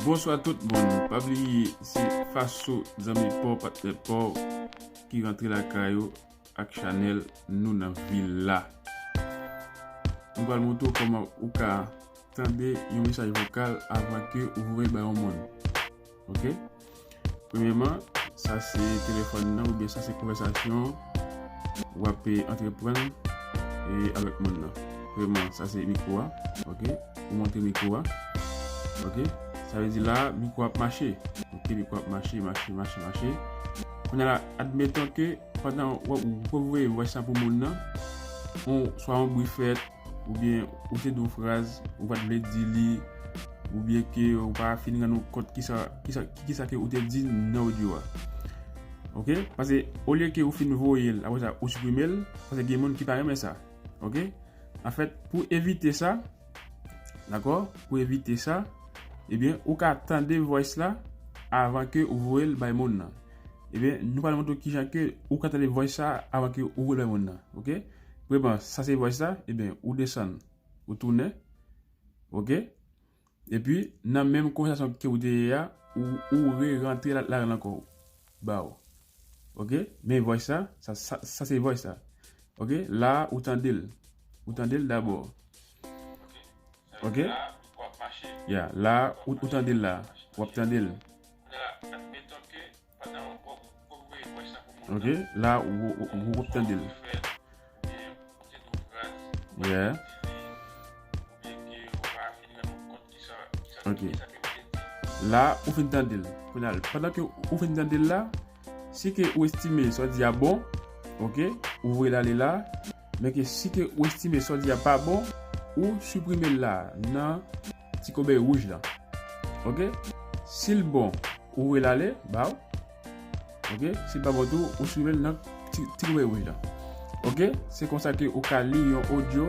Bonswa tout moun pa bliye se faso zanmi paw patnè paw ki rantre lakay ou ak chanèl nou nan villa nou pral montre ou kòman ou ka tande yon mesaj vokal avan ke ou voye bay yon moun. Ok Premyeman sa se telefòn nan oubyen sa se konvèsasyon wap antreprann avèk moun nan Premyeman sa se mikwo a ok ou monte mikwo a ok sa vle di la mikwo ap mache ok mikwo ap mache mache mache mache Kounye la admeton ke pandan wap voye vwès la pou moun nan swa yon bri fèt ou byen ou te di yon fraz ou pat vle di li ou byen ke ou pa fin rann ou kont ki sa ke ou te di nan audio a ok pase ou lye ke ou fin voye l apre sa ou suprime l pase gen moun ki pa renmen sa ok an fèt pou evite sa dakò pou evite sa e byen ou ka tande voice la avan ke ou voye l bay moun nan e byen nou pral montre w kijan ke ou ka tande voice sa avan ke ou voye l bay moun nan ok Prema sa se voice la ebyen ou desann ou tounen ok epi nan menm konvèsasyon ke ou te ye a ou re rantre ladann ankò ou baw ok men voice la sa se voice la ok la ou tandel ou tandel dabò ok ya la ou tandel la wap tandel. Ok la ou wap tande l. Yeah. Ok. La ou fin tande l. Pendan ke ou fin tande l la, si ke ou estime sa di a bon, ok, ou voye l ale la. Men ke si ke ou estime sa w di a pa bon, ou siprime l la nan ti kobèy wouj lan. Ok. Si l bon, ou voye l ale ba w. Ok. Si l pa bon tou, ou siprime l nan ti kobèy wouj lan. Ok. Se konsa ke ou ka li yon audio.